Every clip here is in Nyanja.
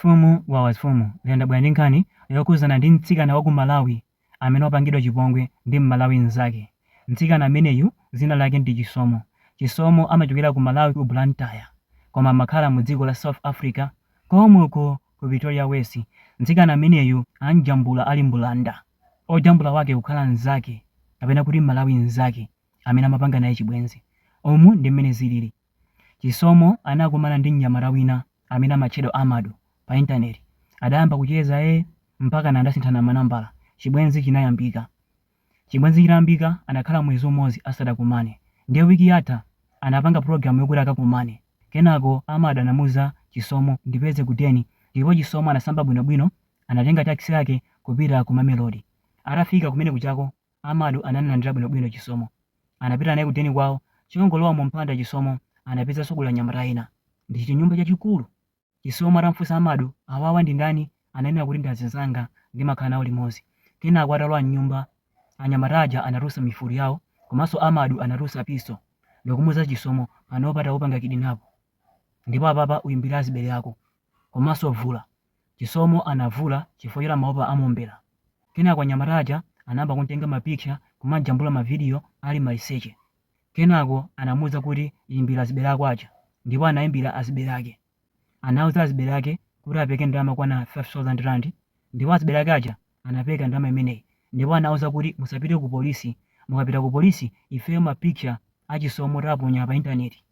Wawa zifumu wawa zifumu lero ndabwera ndi nkhani yokhudzana ndi mtsikana wa ku Malawi amene wapangidwa chipongwe ndi m'Malawi mzake. Mtsikana ameneyu dzina lake ndi Chisomo. Chisomo amachokera ku Malawi ku Blantyre koma amakhala mu dziko la South Africa komweko ku Pretoria West. Mtsikana ameneyu amjambula ali mbulanda. Ojambula wake kukhala mzake kapena kuti m'Malawi mzake amene amapanga naye chibwenzi. Umu ndi m'mene zilili. Chisomo anakumana ndi mnyamata wina amene amatchedwa Amadu pa internet adayamba kucheza mpakana adasinthana manambala chibwenzi chinayambika. Chibwenzi chitayambika anakhala mwezi umodzi asadakumane ndiye week yatha anapanga program yokuti akakumane kenako Amadu anamuza Chisomo ndipeze ku den ndipo Chisomo anasamba bwino bwino anatenga taxi yake kupita ku Mamelodi atafika kumene kujako Amadu anamulandira bwino bwino Chisomo anapita naye ku deni kwao akangolowa mu mpanda Chisomo anapezanso kuli anyamata ena ndi chinyumba chachikulu Chisomo atamfunsa Amadu awawa ndi ndani ananena kuti ndi azinzanga ndimakhala nawo limodzi kenako atalowa mnyumba anyamata aja anatulutsa mifulu yawo komanso Amadu anatulutsa pistol ndikumuza Chisomo panopa takupanga kidinapu ndipo apapa uyimbire azibale ako komanso vula. Chisomo anavula chifukwa choti amaopa amuombera. Kenako anyamata aja anayamba kum'tenga mapicha kumam'jambula mavidiyo ali maliseche. Kenako anamuuza kuti imbira azibale ako aja ndipo anaimbira azibale ake. Anauza azibale ake kuti apeke ndalama yokwana R5,000 ndipo azibale ake aja anapeka ndalama imeneyi ndipo anawauza kuti musapite kupolisi, mukapita kupolisi ifeyo mapicha a Chisomo tiwaponya pa intaneti.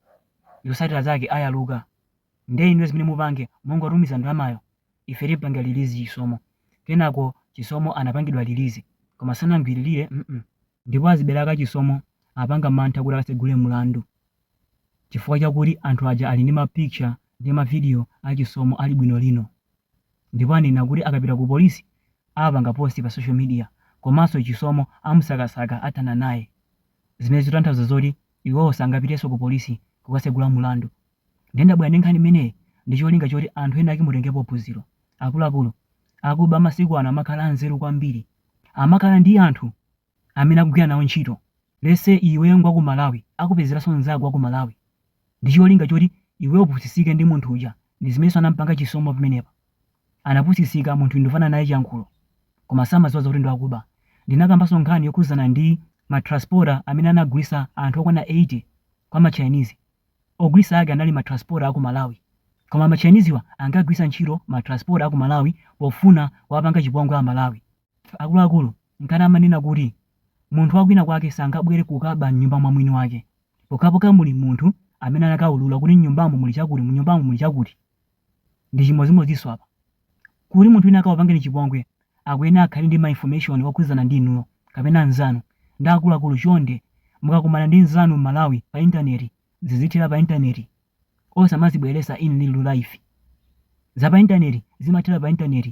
Zotsatira zake ayaluka. Ndiye inuyo zimene mupange mungotumiza ndalamayo ife timpanga release Chisomo. Kenako Chisomo anapangidwa release koma sanamgwiririre ndipo azibale ake Chisomo apanga mantha kuti akatsegule mlandu chifukwa chakuti anthu aja ali ndi ma picture ndi ma video a Chisomo ali buno bwino ndipo anena kuti akapita ku police apanga post pa social media komanso Chisomo amusakasaka athana naye zimene zikutanthauza zoti iwowo sangapitenso ku police kukatsegula mlandu. Ndiye ndabwera ndi nkhani imeneyi ndi cholinga choti anthu ena ake mutengepo phunziro. Akuluakulu, akuba amasiku ano amakhala anzeru kwambiri. Amakhala ndi anthu amene akugwira nawo ntchito. Lets say iweyo ngwa ku Malawi, akupezeranso mnzako wa ku Malawi ndi cholinga choti iweyo upusitsike ndi munthu uja. Ndi zimenenso anamupanga Chisomo pamenepa. Anapusitsika, munthuyu tikufanana naye chiyankhulo koma samadziwa zoti ndi wakuba. Ndinakambanso nkhani yokhudzana ndi ma transporter amene anagulitsa anthu okwana 80 kwa ma Chinese. ogulitsa ake anali ma transporter aku malawi koma ma chinesewa ankagwiritsa ntchito ma transporter aku malawi pofuna kuwapanga chipongwe a malawi akuluakulu nkona amanena kuti munthu wa kwina kwake sangabwele kukaba mnyumba mwa mwini wake pokhapokha muli munthu amene anakaulula kuti mnyumbamo muli chakuti mnyumbamo muli chakuti Ndi chimodzimodzinso apa. Kuti munthu wina akakupangeni chipongwe, akuyenera akhale ndi ma information okhudzana ndi inuyo kapena mzanu ndiye akuluakulu chonde mukakumana ndi nzanu m'Malawi pa intaneti zizithera pa intaneti osamazibweretsa in real life. Za pa intaneti zimathera pa intaneti.